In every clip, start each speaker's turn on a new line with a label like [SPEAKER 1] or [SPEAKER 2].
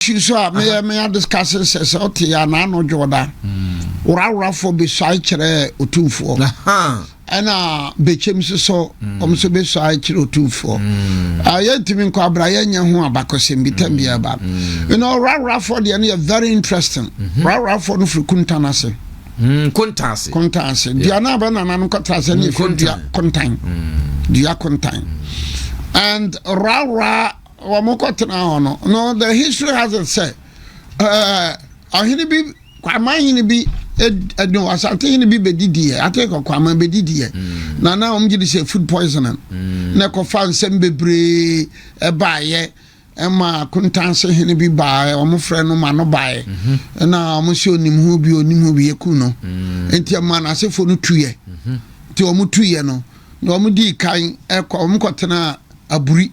[SPEAKER 1] issue so a meyɛ me adiscase sɛ sɛ ɔte yɛ anaa no dwoda hmm. woraworafoɔ bɛsuae kyerɛ ɔtumfoɔ ɛna bɛkyɛm so so hmm. ɔm so bɛsuae kyerɛ ɔtumfoɔ hmm. ah, yɛntumi nkɔ abra yɛnyɛ ho abakɔsɛm bi tam biaa ba ɛna woraworafoɔ deɛ no yɛ very interesting mhm. woraworafoɔ no firi kuntan ase kontan ase kontan ase dua no abɛnana no kɔtra sɛ ne ɛfiri dua kontan dua kontan and rara wɔn kɔ tena hɔ no no the history has it sɛ ɔhene bi kwama hene bi ɛdun asante hene bi bɛdidiɛ ate kɔ kwama bɛdidiɛ mm. na na wɔn gye de sɛ food poisoning mm. na ɛkɔfa nsɛm bebree ɛbaayɛ ɛma kontanse hene bi baayɛ wɔn frɛ no ma no baayɛ mhm. ɛna wɔn sɛ onim ho bi onim ho bi yɛ ku no mm. nti ɛma n'asefo no tuyɛ mhm. nti wɔn tuyɛ no. na wɔn dii kan ɛkɔ wɔn kɔtenaa aburi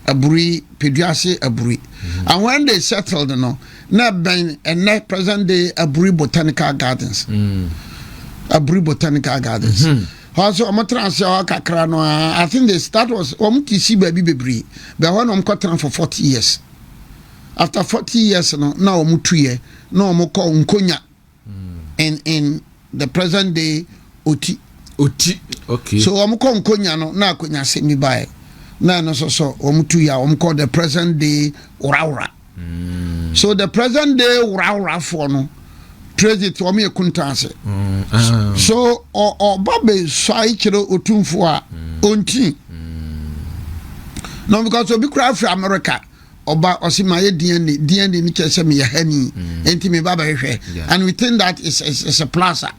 [SPEAKER 1] aburi peduase aburi mm-hmm. and when they settled no na bɛn ɛnɛ present day aburi botanical gardens mm. aburi botanical gardens. Mm -hmm. ɔsɛ wɔn tena ase hɔ kakra no aa i think this that was wɔn ti si baabi bebree bɛn hɔ na wɔn kɔ tena for forty years after forty years no na wɔn tu yɛ na wɔn kɔ nkonya in in the present day oti. Oti,
[SPEAKER 2] okay. So wɔn kɔ nkonya
[SPEAKER 1] no na akonya asɛm bi baeɛ na ɛno nso so wɔn tu ya wɔn kɔ the present day worawora. Mm. So the present day woraworafoɔ no president wɔn yɛ kuntaase. Mm. Ah. So ɔba bɛ sua kyerɛ otumfoɔ a ɔnti. Mm. No because obi kura afiri America ɔba ɔsi ma yɛ dna dna ne kyerɛ sɛ meyɛ ha ni mm. nti me ba bɛhwehwɛ and we think that is is, is a plaza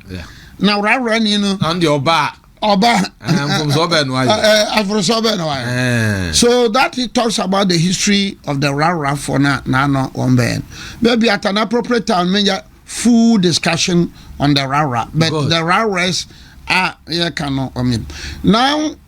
[SPEAKER 1] na worawora ni no ɔn deɛ ɔba
[SPEAKER 2] ɔba mfomso ɔbɛ no ayɛ aforoso ɔbɛ
[SPEAKER 1] no ayɛ so that it talks about the history of the worawora for na n'ano wɔn bɛn bɛbi at an appropriate time menya full discussion on the worawora but Good. the woraworas a yɛka no ɔmin now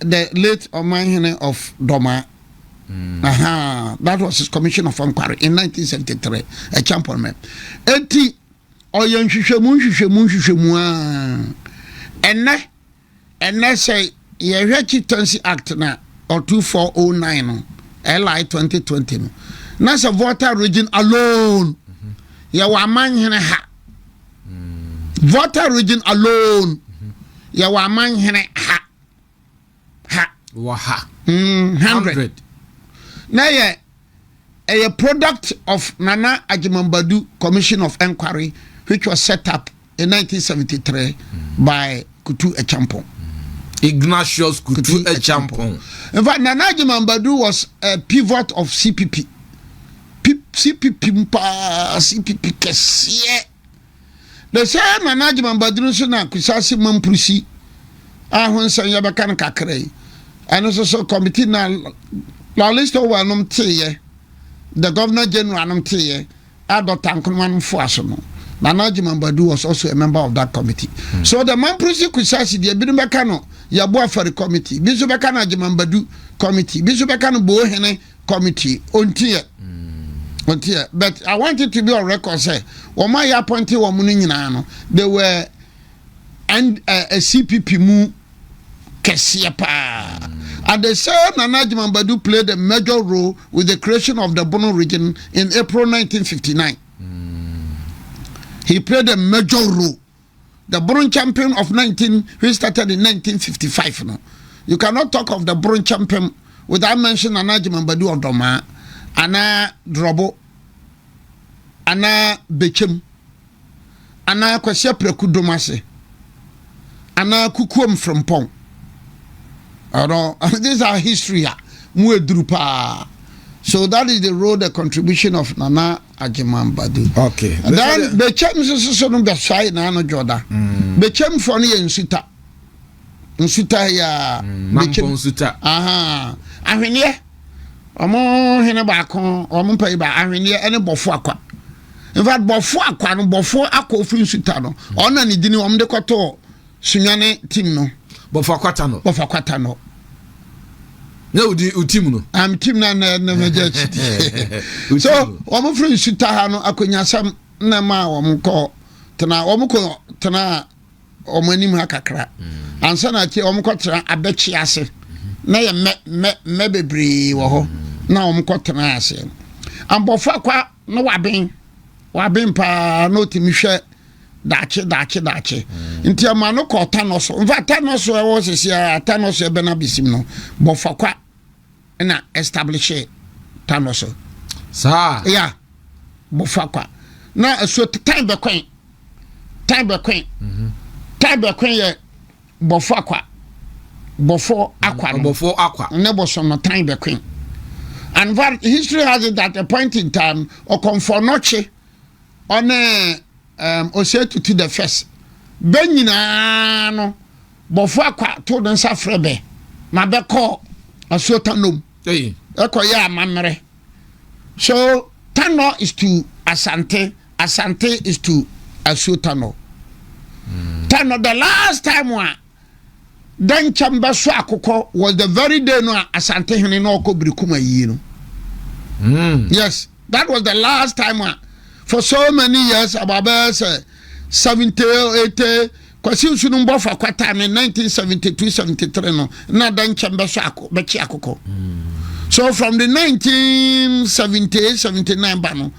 [SPEAKER 1] The late Ɔmanhene of Doma. Mm. Aha, that was his commission of inquiry in 1973 at Champon Mem. Eti, ɔyɛ nhwehwɛmu nhwehwɛmu nhwehwɛmu a ɛnɛ ɛnɛ sɛ yɛhwɛ chieftaincy act na ɔtu 409 no li 2020 no na sɛ volta region alone yɛwɔ amanhene ha Volta region alone. Yɛwɔ amanhene ha. Ha.
[SPEAKER 2] Wɔ ha. Mm, hundred.
[SPEAKER 1] Na yɛ ɛyɛ product of Nana Agyemambadu Commission of Enquiry which was set up in 1973 mm. by Kutu Acheampong. Mm. Ignatius
[SPEAKER 2] Kutu, Kutu Acheampong. In fact, Nana
[SPEAKER 1] Agyemambadu was a pivot of CPP. CPP mu paa CPP kɛseɛ na sɛ nana adwuma baduru nso na kusase mampurusi a ho nsɛm yɛbɛka no kakra yi ɛno nso so kɔmiti na lalist owel nom teeɛ the governor general nom teeɛ a dɔkta nkonoma nom foa so no nana adwuma badu was also a member of that committee mm. so the mampurusi kusase deɛ binom bɛka no yɛboa fari committee bi nso bɛka no adwuma badu committee bi nso bɛka no boohene committee ɔntiɛ ɔntiɛ but i want it to be on record sɛ wɔn a yɛ apɔnte wɔn no nyinaa no they were and uh, eh, cpp mu kɛseɛ paa and they say nana adjuma badu played a major role with the creation of the bono region in april 1959 he played a major role the Buron champion of 19, which started in 1955. No, you cannot talk of the Buron champion without mentioning Anaji Mambadu of Doma, Ana Drobo, Ana Bechem, Ana Kwasia Preku Domase, Ana Kukuom Frimpong. Although, these are history, ah, so that is the role, the contribution of Nana Agyeman Badu. Dan
[SPEAKER 2] Bekyem
[SPEAKER 1] soso no bɛsɔe na ano dwoda. Mm. Bekyem fɔ no yɛ nsuta. Nsuta ya. Mm, Bekyem nsuta.
[SPEAKER 2] Aha.
[SPEAKER 1] Ahweneɛ. Ɔmo hene baako, ɔmo mpayi ba ahweneɛ ɛne bɔfo akwa. In fact, bɔfo akwa no, bɔfo akɔ ofiri nsuta no. Ɔna ne dini ɔmo de kɔtɔ Sunya ne team no. Bɔfa kwata no.
[SPEAKER 2] Bɔfa kwata no. na wodi o team no. am team na na na
[SPEAKER 1] na gya kyidi. so wɔn firi nsuta ha no akonyasɛm na ma wɔn kɔ tena wɔn kɔ tena wɔn anim ha kakra mm. ansa na akyi wɔn kɔ tena abɛkyi ase mm-hmm. na yɛ mmɛ mmɛ mmɛ bebree wɔ hɔ mm. na wɔn kɔ tena ase abɔfra kwa Na waben, waben paa na ɔtumi hwɛ daakye daakye daakye mm. nti ɛma no kɔ ɔta no so nfa ta no so ɛwɔ sisi a ata no so ɛbɛ na besim no bɔfa kwa ɛna establish ta no so. saa ya bɔfa kwa na ɛso tan bɛkɔn tan bɛkɔn mhm. tan bɛkɔn yɛ. Bɔfo akwa, bɔfo akwa no. Bɔfo akwa. Ne bosom no tan the queen. And fact, history has it that a point in time, Okomfo Nokye, on um, Osetu to the first. Bɛ nyinaa no, bɔfo akwa to ne nsa frɛ bɛ ma bɛkɔ asuotanom ɛkɔyɛ amammerɛ. So Tanɔ is to Asante, Asante is to Asuo Tanɔ? Tanɔ the last time a Dɛnkyɛm bɛso akokɔ was the very day no a Asante hene na ɔkɔ Birikum ayie no. Hmm. Yes, that was the last time a for so many years about bɛyɛ sɛ 70 or 80 Kwasi nsu no mbɔ fa kwata ne 1972-73 no na da nkyɛn bɛsɔ ako bɛkye akokɔ. So from the 1978-79 ba no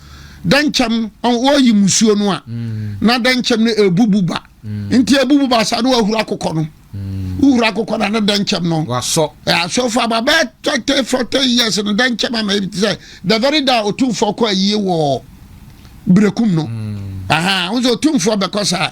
[SPEAKER 1] da nkyɛn wɔyi musuo no a mm. na da nkyɛn no ebubu ba mm. nti ebubu ba saa no wahuru akokɔ no. Mm. Wohuru akokɔ no ne da nkyɛn no. Wasɔ. Ɛasɔ
[SPEAKER 2] fa ba bɛɛ
[SPEAKER 1] thirty forty years no da nkyɛn ama ebi ti sɛ the very day otumfoɔ kɔ ayie wɔ berekum no. Aha, wosɛ otumfoɔ bɛkɔ saa.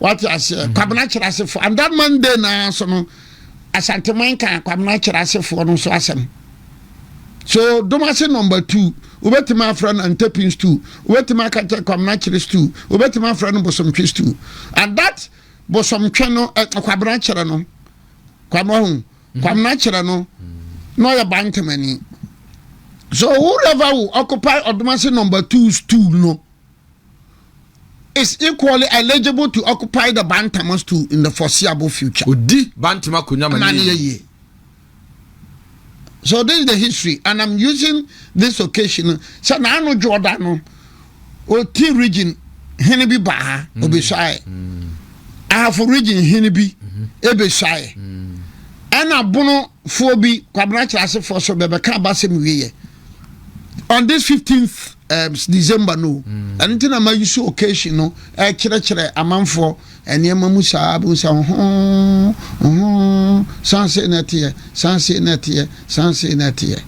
[SPEAKER 1] wate aseɛ mm. kwabena kyerɛ asefoɔ and that monday naa so no asanteman ka kwabena kyerɛ asefoɔ no so asɛm so domase number two wobɛtumi afrɛ no antapin stool wobɛtumi aka kyɛ kwabena kyerɛ stool wobɛtumi afrɛ no bosomtwe stool and that bosomtwe no eh, kwabena kyerɛ no kwabena ho mm-hmm. kwabena kyerɛ no na ɔyɛ bantamani so whoever will occupy ɔdomase number two stool no is equally eligible to occupy the Bantama stool in the foreseeable future. Odi Bantama
[SPEAKER 2] konya mani.
[SPEAKER 1] So this is the history and I'm using this occasion. Sɛ n'ano Jordan no, oti region hene bi ba ha, mm. obesuae. Mm. Ahafo region hene bi mm-hmm. ebesuae. Mm. Ɛna bonofoɔ bi, kwabena kyerɛ asefoɔ so bɛbɛka abasɛm wieɛ. on this 15th um, december no mm. ɛno nti na ma use occasion no ɛkyerɛkyerɛ amanfoɔ nneɛma mu saa bɛhu sɛ ho ho sanse na ɛteɛ sanse na ɛteɛ sanse na ɛteɛ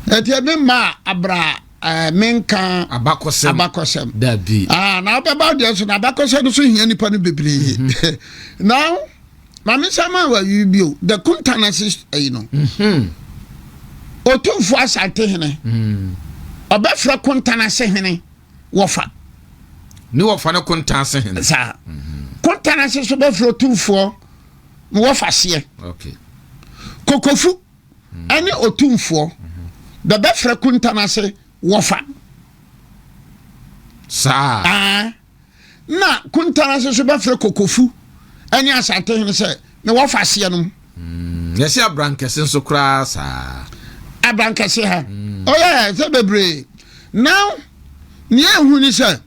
[SPEAKER 1] ɛteɛ me mmaa abra eh, menka abakɔsɛm abakɔsɛm dabi ah
[SPEAKER 2] na wobɛba deɛ
[SPEAKER 1] so na abakɔsɛm no so hia nipa no bebree mm-hmm. now Maame nsa maa wa yi bio the kunta na se ayi no. Mhm. Otumfo asante hene. Mhm. Ɔbɛfrɛ kunta na se hene wɔfa.
[SPEAKER 2] Ne wɔfa no kunta ase hene. Saa. Mhm.
[SPEAKER 1] Kunta na se so bɛfrɛ otumfoɔ na wɔfa seɛ. Okay.
[SPEAKER 2] Kokofu
[SPEAKER 1] mhm. ɛne otumfoɔ mhm. bɛbɛfrɛ kunta na se wɔfa.
[SPEAKER 2] Saa. Ah.
[SPEAKER 1] na kuntana ase nso bɛfrɛ kokofu ne asantehene sɛ na wɔfa aseɛ nom mm, yɛsi
[SPEAKER 2] abrankɛse nso koraa saa abrankɛse
[SPEAKER 1] ha mm. ɔyɛ oh, yeah, sɛ bebree now nea ehu ni sɛ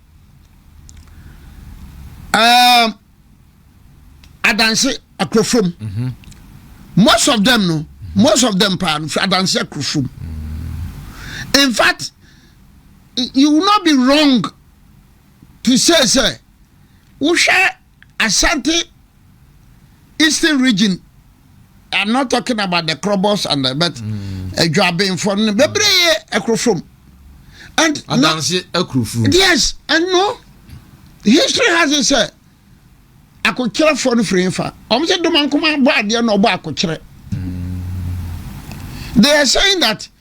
[SPEAKER 1] ɛɛm um, adanse akorofom mhm. most of them no most of them paa no fi adanse akorofom mm. in fact you will not be wrong te sei sɛ, wohwɛ Asante Eastern region I'm not talking about the Krobos and the but Edwaben for no bebree ekrofom. And adanse ekrofom. Yes, and no history has it said akokyerɛ fɔ no firi nfa wɔn sɛ dɔm ankoma bɔ adeɛ na ɔbɔ akokyerɛ. They are saying that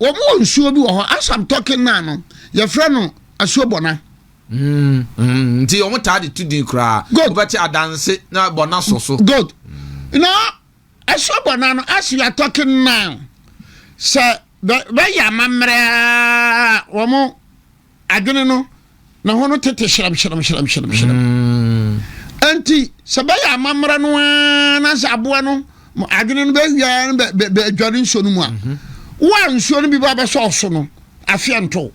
[SPEAKER 1] Wɔn wɔ nsuo bi wɔ hɔ as I'm talking now no yɛfrɛ no asuo bɔna.
[SPEAKER 2] Mm, mm, nti wɔn taa de tu din koraa. Good. Wobɛte adanse na bɔna so so. Good. Mm.
[SPEAKER 1] Na asuo bɔna no as we are talking now sɛ bɛyɛ amammerɛ wɔn Adwene no, ne ho no tete hyerɛmhyerɛmhyerɛmhyerɛm. Mm. Enti, sɛ bɛyɛ amammerɛ no ara na sɛ aboa no adwene no bɛwia no bɛadware nsuo no mu a, mhm. wo a nsuo no bi ba bɛsɔ ɔso no, afeɛ nto.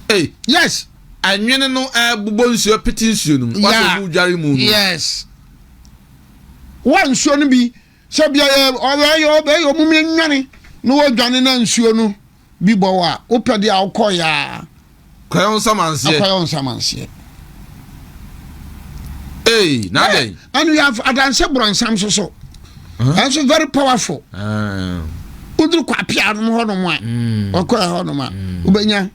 [SPEAKER 1] Hey. Yes. Anwene no ɛbobɔ eh, nsuo pete nsuo no mu. Wasɛ wo dware mu no. Yes. Wo a nsuo no bi sɛ bia ɔbɛyɛ ɔbɛyɛ ɔmo mi nwane na wɔdwane na nsuo no. Bi bɔ wo a, wopɛ deɛ a wokɔ yaa. Kɔyɛ wo nsamanseɛ. Akɔyɛ wo nsamanseɛ. Ee, na adɛn? Ɛno yɛ adanse borɔnsam so so. Ɛnso very powerful. Woduru kɔ apia nom hɔ nom a, hmm. wɔkɔ ɛhɔ nom a, hmm. wobɛnya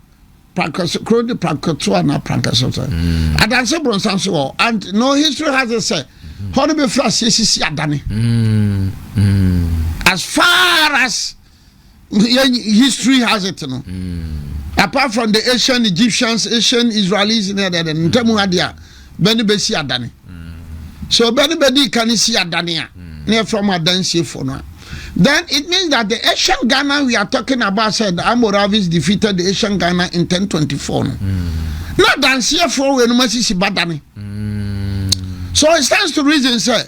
[SPEAKER 1] prankɛso kuro de prankɛso anaa prankɛso sɛ. Hmm. Adanse borɔnsam so wɔ and no history has it sɛ hɔ no bɛfiri aseɛ sisi adane. As far as yɛn history has it no mm. apart from the asian egyptians asian israelis ne ɛdɛdɛ no ntamu ha deɛ a bɛne bɛsi adane mm. so bɛne bɛdi ka ne si adane a mm. na yɛfrɛ m adansiefo no a then it means that the asian ghana we are talking about said the amoravis defeated the asian ghana in 1024 no na adanseɛfoɔ wei no masisi badane so it stands to reason sɛ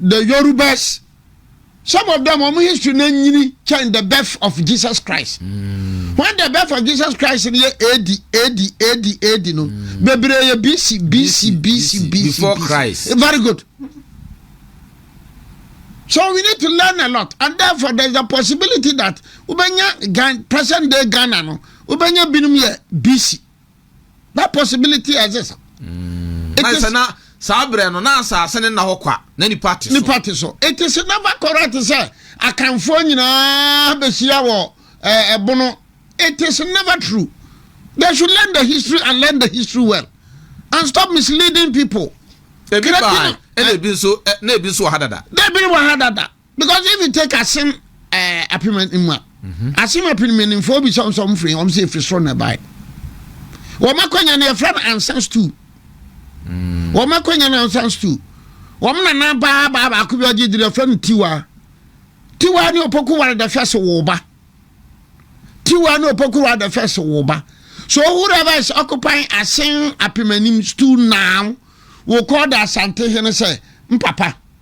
[SPEAKER 1] The Yorubas, some of them, wɔn history na nyini kyɛn the birth of Jesus Christ. Mm. When the birth of Jesus Christ in yɛ AD, AD, AD, AD no, mm. bebree yɛ BC, BC, BC, BC.
[SPEAKER 2] Before BC. Christ. Eh, very good.
[SPEAKER 1] So we need to learn a lot, and therefore there's a possibility that ubenya present day Ghana no, ubenya binum yɛ BC. that possibility exists. Mm. It is, na saa berɛ no
[SPEAKER 2] na asase ne nna hɔ kwa na nipa te so. nipa te so it is
[SPEAKER 1] never correct sɛ akanfoɔ nyinaa bɛhyia wɔ eh, ɛbono it is never true they should learn the history and learn the history well and stop misleading people. ebi baa ɛna ebi nso na ebi nso wɔ ha dada. na ebi wɔ ha dada. because if you take asem ɛɛ apem anim a asem apem anim fo obi sɔm sɔm firi wɔn sɛ efiri soro na ɛbae wɔn akɔnya na yɛfrɛ no ansan stool wɔn akɔnya na ansan stool wɔn nana baa baa baako bi ɔgye diri yɛfrɛ no tiwa tiwa ne opoku ware the first wo ba tiwa ne opoku ware the first wo ba so whoever is occupying asem apem anim stool now will call the asante hene sɛ mpapa.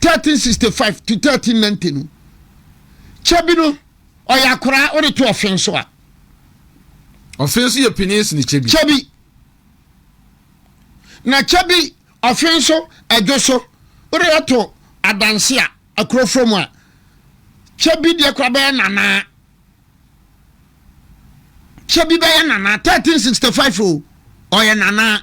[SPEAKER 1] thirteen sixty five to thirteen ninety no kyɛ bi no ɔyɛ akoraa ɔde to ɔfe nso a ɔfe
[SPEAKER 2] nso yɛ panyin sini kyɛ bi kyɛ bi
[SPEAKER 1] na kyɛ bi ɔfe nso ɛdwo so ɔde ato adanse a akurofo mu a kyɛ bi deɛ kora bɛyɛ nanaa kyɛ bi bɛyɛ nanaa thirteen sixty five o ɔyɛ nanaa.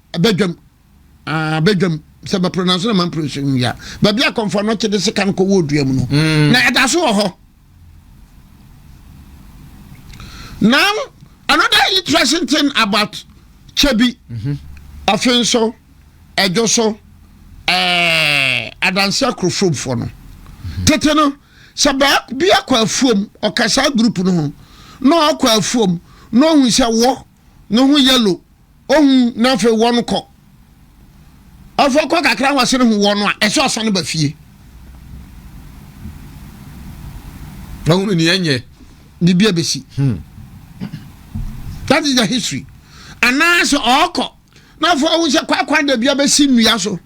[SPEAKER 1] badwam ah badwam sɛ bɛpro nanso na mampro nso nwia baabi a kɔmfɔ no kyede sika no kɔwɔ odua mu no mm. na ɛda so wɔ hɔ now another interesting thing about chebi mm-hmm. afei nso ɛdwo so eh, adanse akorofomfoɔ no mm-hmm. tete no sɛ baabi akɔ afuom ɔkasa group no ho na ɔkɔ afuom na ɔhu sɛ wɔ no ho yellow ohun na afei wɔn kɔ afei kɔ kakra wɔn sene ho wɔn a ɛsɛ ɔsan ba fie
[SPEAKER 2] ɔhunu ni ɛnyɛ biribi abɛsi
[SPEAKER 1] hmm. that is the history anaasɛ ɔɔkɔ na afei ɔhu sɛ kwakwan da bi abɛsi nnua so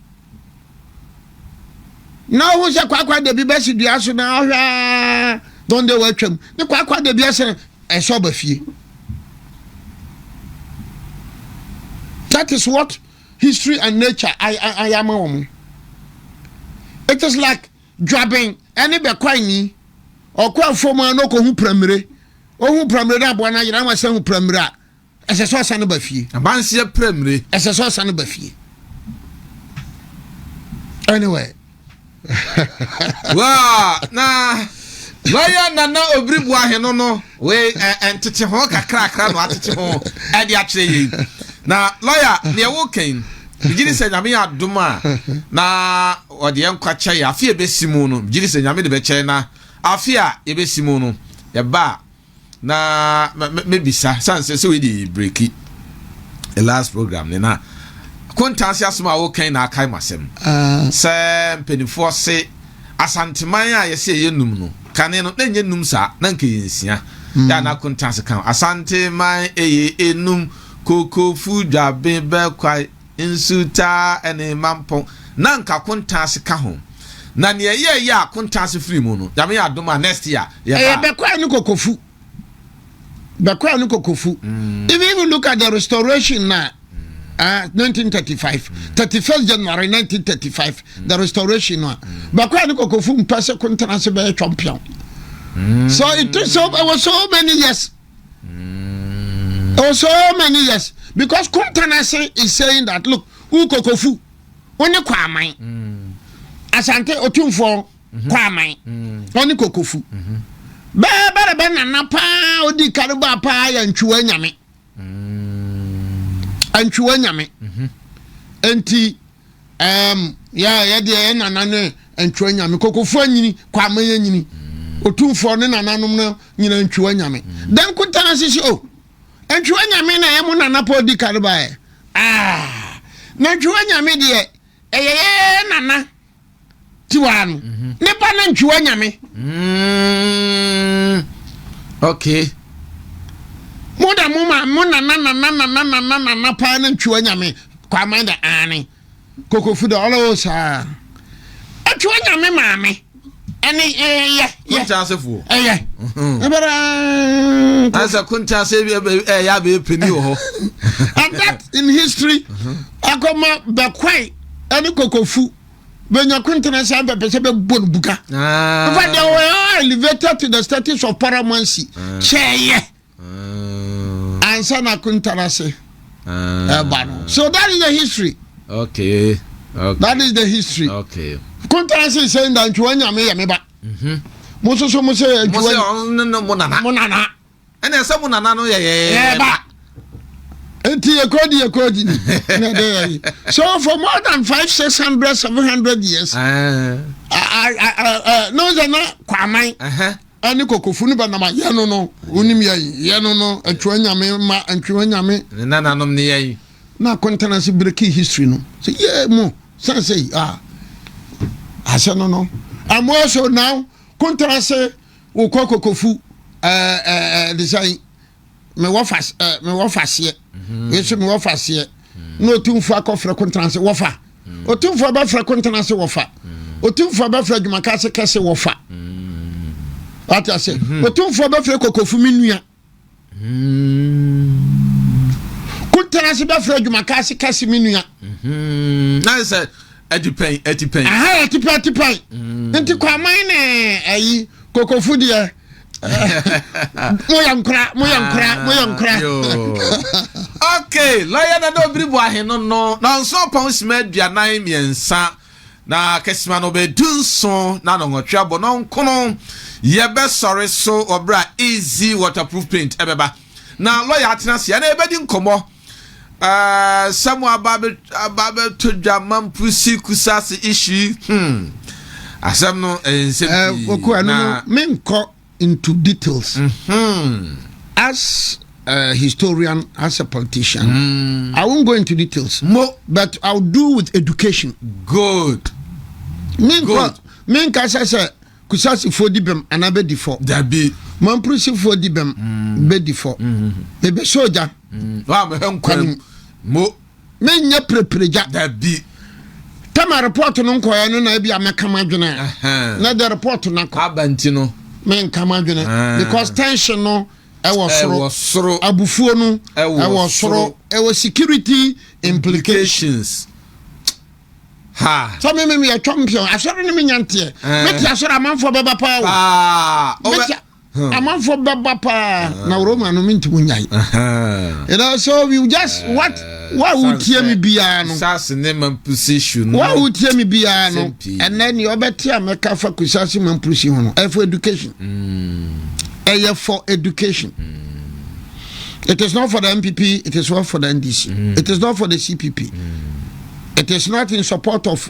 [SPEAKER 1] na ɔhu sɛ kwakwa da bi bɛsi dua so na ɔhwɛ aa dɔn dɛ wɔatwam ne kwakwa da bi ɛsɛ ɛsɛ ɔba fie that is what history and nature ayɛ ama wɔn it is like dwaben ɛne bɛkwan ni ɔkɔ afɔm a na ɔkɔ hu pramire ohun pramire na aboa na ayera wɔn asɛ hu pramire a. Ɛsɛ sɛ ɔsan ba fie. Abanseɛ pira mmire.
[SPEAKER 2] Ɛsɛ sɛ ɔsan ba fie.
[SPEAKER 1] Anyway.
[SPEAKER 2] Waa na lɔya nana obiri bu aheno no wei ɛntete eh, eh, ho kakrakra na atete ho ɛde eh, akyerɛ yei na lɔya deɛ wokɛn gyiri sɛ nyame yɛ adom a na ɔde yɛn nkwa kyɛ yɛ afe a ɛbɛsi mu no gyiri sɛ nyame de bɛkyɛ na afe a yɛbɛsi mu no yɛba a Na me me mebisa san sɛ sɛ wei de breki the last program ne na kontansi asɛm a wokan na akae masɛm ah. sɛ mpanimfoɔ se asanteman a yɛsɛ yɛyɛ num no kane no na ɛnyɛ num saa na nka yɛ nsia mm. yɛ ana kontansi kan asanteman ɛyɛ enum kokofu dwabe bɛkwae Nsutaa ne Mampo na anka Akontaase ka ho. Na nea ɛyɛɛ yɛ a Akontaase firii mu no, Nyame yɛɛ adom a next year yɛbaa. Ɛyɛ Bɛkwai ne Kokofu.
[SPEAKER 1] Bɛkwai ne Kokofu. Mm. If you look at the restoration na uh, 1935, mm. 31st January 1935, mm. the restoration no a, mm. Bɛkwai ne Kokofu mpɛ sɛ Kontaase bɛyɛ twɔmpeɔn. Mm. So it took so, it was so many years. Mm. Oh, so many years. Because Kuntanase is saying that, look, Ukokofu, only Kwaman. Mm. Asante Otumfo mm-hmm. Kwaman, mm. only Kokofu. Mm-hmm. Bẹ́ẹ̀ bẹ́ẹ̀ bẹ́ẹ̀ nana paa ó di kárìbà paa yẹ ntwiwa nyame. Mm. Ntwiwa nyame. Mm-hmm. Nti. ɛɛm yɛ yɛ deɛ yɛ nana ne ntwa nyame kɔkɔfoɔ nyini kɔ ama yɛ nyini mm. otumfoɔ ne nananom no nyina ntwiwa nyame mm. dɛn kotana sisi o ntwiwa nyame na ɛyɛ mo nana pɔ di ka no baɛ ah. na ntwiwa nyame deɛ ɛyɛ yɛ nana tiwaa no mhm. ne ba na ntwiwa nyame
[SPEAKER 2] mm. okay
[SPEAKER 1] mo da mo ma mo nana nana nana nana nana paa na ntwiwa nyame kwaman da aane kokofu da ɔlɔwɔ saa atwiwa nyame maame ɛne ɛyɛ yɛ kuntaasefo
[SPEAKER 2] ɛyɛ ɛbɛrɛ
[SPEAKER 1] ansa kuntaase bi
[SPEAKER 2] ɛyɛ abɛyɛ pɛni wɔ hɔ and that
[SPEAKER 1] in history akɔma bɛkwae ɛne kokofu. bɛnya kontena saa bɛpɛ sɛ bɛbɔ no buka ah. in fact they were all elevated to the status of paramountcy ah. kyɛɛyɛ ah. ansa na kontena se ɛba no so that is the history okay,
[SPEAKER 2] okay. that is the
[SPEAKER 1] history okay. kontena
[SPEAKER 2] se sɛ
[SPEAKER 1] nda ntwiwa nyame yɛ me ba mhm. mo nso so mo sɛ ntwiwa
[SPEAKER 2] mo nana ɛnna ɛsɛ mo nana no yɛyɛ ba. Eti
[SPEAKER 1] yɛkɔ di yɛkɔ di na ɛdɛ yɛ yi. So for more than five six hundred seven hundred years. N'o sɛ na kwaman ɛne kɔkɔfu no bɛnam a yɛn no no wonim yɛ yi yɛn no no atwa nyame ma ntwa nyame. Ne nananom ne yɛ yi.
[SPEAKER 2] Na akɔntana se
[SPEAKER 1] breaking history no sɛ yɛ mo sɛ sɛ ah asɛ no no ɛmo ɛso now kɔntana se. wokɔ kokofu ɛɛ ɛɛ ɛdisan mewɔ fa ɛɛ mewɔ fa seɛ mhm. wei nso mewɔ fa seɛ mhm. na otumfo akɔfrɛ kontena ase wɔfa mhm. otumfo abɛfrɛ kontena ase wɔfa otumfo abɛfrɛ adwumaka ase kɛse wɔfa wate ase otumfo abɛfrɛ kokofu me nua kontena ase bɛfrɛ adwumaka ase ka se me nua na
[SPEAKER 2] sɛ atipɛn atipɛn aha atipɛn
[SPEAKER 1] atipɛn nti kwaman ne ayi kokofo deɛ moyɛ nkora moyɛ nkora moyɛ nkora
[SPEAKER 2] okay lɔyɛ na na obiri bu aheno no na ɔnso pɔn sima aduanan mmiɛnsa Na kesima no ɔbɛyɛ dunson na nnɔnwɔtwe abɔ no nkono yɛbɛsɔre so wɔ berɛ a Easy Waterproof Paint ɛbɛba na lɔya atena ase ɛna yɛbɛdi nkɔmmɔ ɛɛ sɛ mo aba aba bɛtɔ dwa mampusi kusase issue yi hmm asɛm no ɛyɛ nsɛm pii na
[SPEAKER 1] menkɔ into details mm -hmm. as a historian as a politician mm. i won't go into details Mo. but i'll do with education good
[SPEAKER 2] menkɔ
[SPEAKER 1] menka sɛ sɛ kusasifoɔ di bɛm anaa bɛdi fɔ dabi
[SPEAKER 2] mamprisifoɔ
[SPEAKER 1] di bɛm mm. bɛdi fɔ mebɛsɛ ogya mm.
[SPEAKER 2] mo menyɛ
[SPEAKER 1] preperegya. Dabi.
[SPEAKER 2] Tɛma
[SPEAKER 1] report no nkɔɛ no na ebi a mɛka m'adwene a. Na ɛdɛ report no akɔ. Aba nti no.
[SPEAKER 2] Menka m'adwene.
[SPEAKER 1] Because tension no ɛwɔ soro. Ɛwɔ soro. Abufuo no ɛwɔ soro. Ɛwɔ security implications. Ha. Sɛ me me me yɛtwa mpion. Asɔre no menya nteɛ. Mete asɔre amanfoɔ bɛba paa o. Paa. Amanfoɔ bɛba paa na Roma no mentumi nyae. You know, so we just what wa wotie mi biara no. Kusase ne mampusi
[SPEAKER 2] no. Wa wotie mi
[SPEAKER 1] biara no. Ɛnɛ ni ɔbɛte a mɛka fa kusase mampusi ho no. Ɛyɛ for education. Mm. Ɛyɛ for education. Mm. It is not for the MPP. It is not for the NDC. Mm. It is not for the CPP. It is not in support of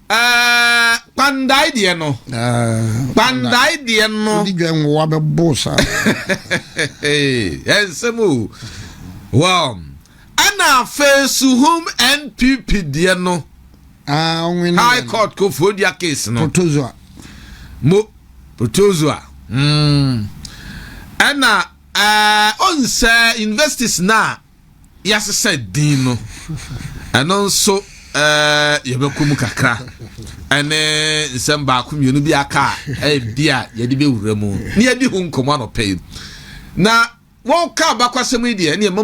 [SPEAKER 2] Ɛɛ kpandae deɛ no. Ɛɛ kpandae deɛ no. Wodi dwa nwowa bɛ bo
[SPEAKER 1] sa.
[SPEAKER 2] Ɛnsɛm o. Wow. Ɛna afei suhum NPP deɛ no. Ah, ɔnwene. High court kofuo dua case no. Protozoa. Mo protozoa. Mm. Ɛna ɛɛ onsɛ universities na yɛasesa din no ɛno nso yɛbɛkɔ mu kakra ɛne nsɛm baako mmienu bi aka a ɛbi a yɛde bɛwura mu ne yɛdi ho nkɔmmɔ anɔpɛ yi na wɔka abakɔsɛm yi deɛ ɛne ɛma